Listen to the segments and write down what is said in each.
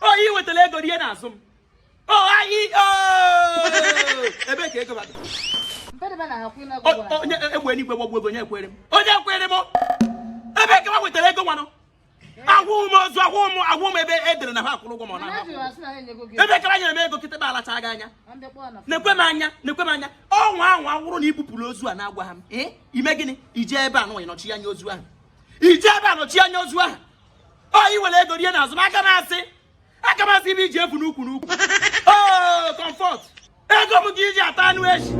o ị wetara ego rie n'azụ m o anyị o ebe ka ego bata Mpedebe na akwụ na O- gwara. onye egbe eluigwe gbagbuo gị onye ekwere m onye ekwere m ebe ka i wetara ego nwanụ agwụ m ozu agwụ m agwụ m ebe e dere na ha akwụrụ ụgwọ ma ọ Mana na-ahụ ajụrụ asị na ha enyego gị. ebe ka ha nyere m ego kịtịkpa lachaa gị anya Na ndị kpọọ na fon. nekwa m anya nekwa m anya ọnwa ahụ hụrụ na i bupụrụ ozu a na-agwa ha m ee ime gịnị ije ebe a nụwa ịnọchi anya ozu ahụ ije ebe a nọchi anya ozu ahụ ọ i were ego rie n'azụ m aka m asị aka m asị ihe i ji evu n'ukwu n'ukwu oo Comfort ego m ka i ji ata anụ echi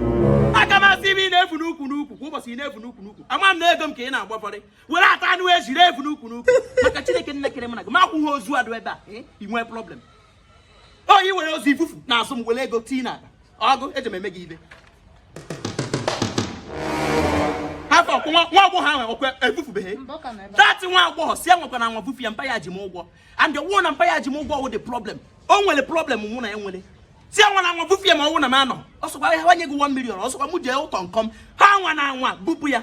aka m asị ibe ị na-evu n'ukwu n'ukwu kwa ụbọchị ị na-evu n'ukwu n'ukwu ama m na ego m ka ị na-agbafọrị were ata anụ echi ree evu n'ukwu n'ukwu maka chineke nne kere m na gị ma akwụghị ozu a dụ ebe a eh, i nwee problem ọ i were ozu vufu n'azụ m were ego tii na akpa ọgụ eji m eme gị ibe afọ ọkụ nwa nwa agbọghọ ahụ ọkwa evufubeghị Mba, ọ ka nọ ebe a. that nwa agbọghọ sị anwakwana anwa bufu ya mpa ya ji m ụgwọ and ọ wụ na mpa ya ji m ụgwọ wụ the problem o nwere problem mụ na ya nwere sị anwana anwa bufu ya ma ọ wụ na m anọ ọ sọkwa ha nye gị 1 million ọ sọkwa mụ jee Utonkom anwana anwa bupụ ya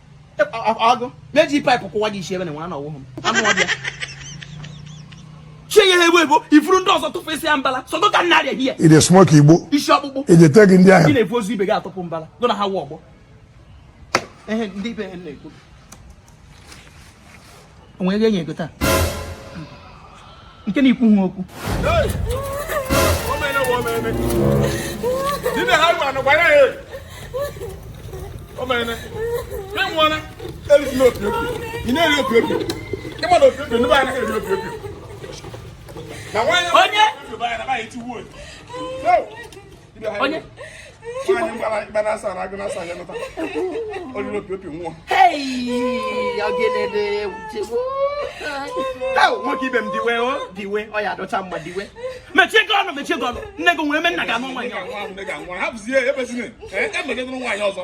aga m eji pipe kụwa gị isi ebe na nwa na ọ wụhụ m anụ ọ bịa chie ya ewu ebo ifuru ndị ọzọ tụfu isi ya mbala sọgo ka nna arịa hie i dey smoke igbo isi ọkpụkpụ ejete gị ndị ahụ ị na-ebu ozu ibe gị atụpụ mbala gụ na ha wụ ọgbọ ehe ndị ibe ha na-ekwu o nwe ego enye ego taa nke na-ekwu ha okwu onye onye nwoke ibe m diwe o diwe ọ ya adọcha mgba diwe mechie gị ọnụ mechie gị ọnụ nne gị nwere eme nna gị anụ nwaanyị ọzọ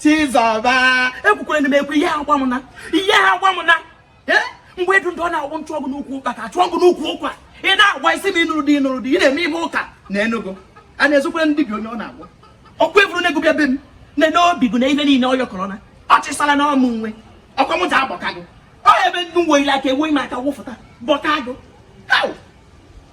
Chizọba ekwukwere na m ekwu ihe agwa m na ihe agwa m na mgbe edu ndụ ọ na-agwụ nchụ ọgụ n'ukwu ụkpa ka achụ ọgụ n'ukwu ụkwa ị na-agwa isi m ị nụrụ di ị nụrụ di ị na-eme ihe ụka na Enugu a na-ezokwere ndị bi onye ọ na-agwa ọkwa eburu na-ego bịa be m na n'obi gị na ihe niile ọ yọkọrọ na ọ chịsala na ọ mụ nwe ọkwa mụta agbọkago ọ ebe ndị nwe ile aka enweghị m aka wụfụta bọkago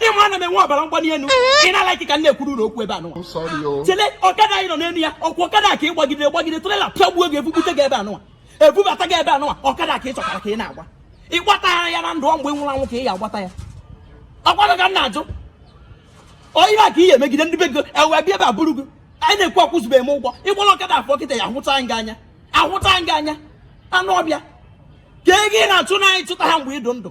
ị ma ana m enwe ọbara mgbali elu ị na-alike ka m na-ekwuru na okwu ebe anụ chele ọkada a ị nọ n'elu ya ọ kwa ọkada ka ị gbagidere gbagide trailer pịagbuo gị ebubute gị ebe anụwa ebubata gị ebe anụwa ọkada ka ị chọtara ka ị na-agba ị gbata ya na ndụ mgbe ị nwụrụ anwụ ka ị ya agbata ya ọkwanụ ka m na-ajụ onye a ka ị ya emegide ndị be gị ewe bịa ebe abụrụ gị anyị na-ekwu akwụzube m ụgwọ ị gbara ọkada afọ kịta ya ahụta anyị gị anya ahụta anyị gị anya anụ ọbịa ka ego ị na-achụ na anyị chụta ha mgbe ị dụ ndụ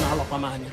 na-alọkwa m anya